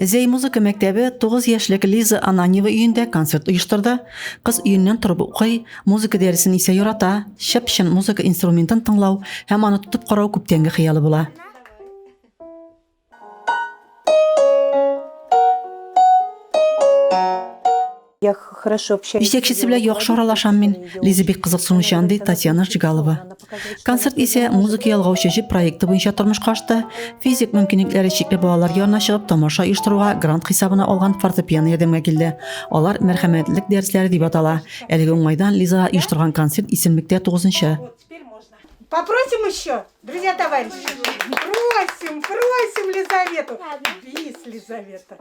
Зәй музыка мәктәбе 9 яшьлек Лиза Ананева өендә концерт оештырды. Кыз өеннән торып укый, музыка дәресен исә ярата. Чәпчен музыка инструментын тыңлау һәм аны тотып карау күптәнге хыялы була. Җитәкчесе белән яхшы аралашам мин, Лиза бик кызыксынучан, ди Татьяна Жигалова. Концерт исә музыка ялгаучы җеп проекты буенча тормышка ашты. Физик мөмкинлекләре чикле балалар янына чыгып тамаша оештыруга грант хисабына алган фортепиано ярдәмгә килде. Алар мәрхәмәтлек дәресләре дип атала. Әлеге уңайдан Лиза оештырган концерт исемлектә 9 нчы. Попросим еще, друзья товарищи. Просим, просим Лизавету. Бис, Лизавета.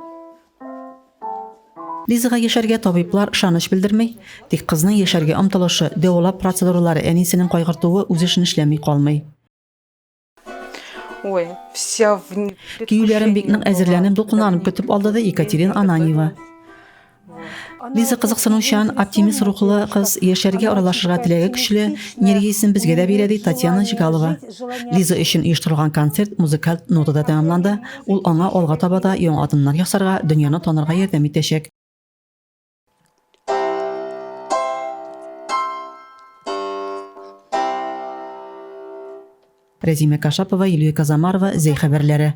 Лизага яшәргә табиблар ышаныч белдерми, тик кызның яшәргә омтылышы, дәвалап процедуралары әнисенең кайгыртуы үз эшен эшләми калмый. Ой, вся в... Киюләрен бик нык әзерләнеп, дулкынланып көтеп алды да Екатерина Ананьева. Лиза кызыксынучан, оптимист рухлы кыз, яшәргә аралашырга теләге көчле, энергиясен безгә дә бирә, ди Татьяна Җигалова. Лиза өчен оештырылган концерт музыкаль нотада тәмамланды. Ул аңа алга таба да яңа адымнар ясарга, дөньяны танырга ярдәм итәчәк. Рәзимә Кашапова, Юлия Казамарова, Зәй хәбәрләре.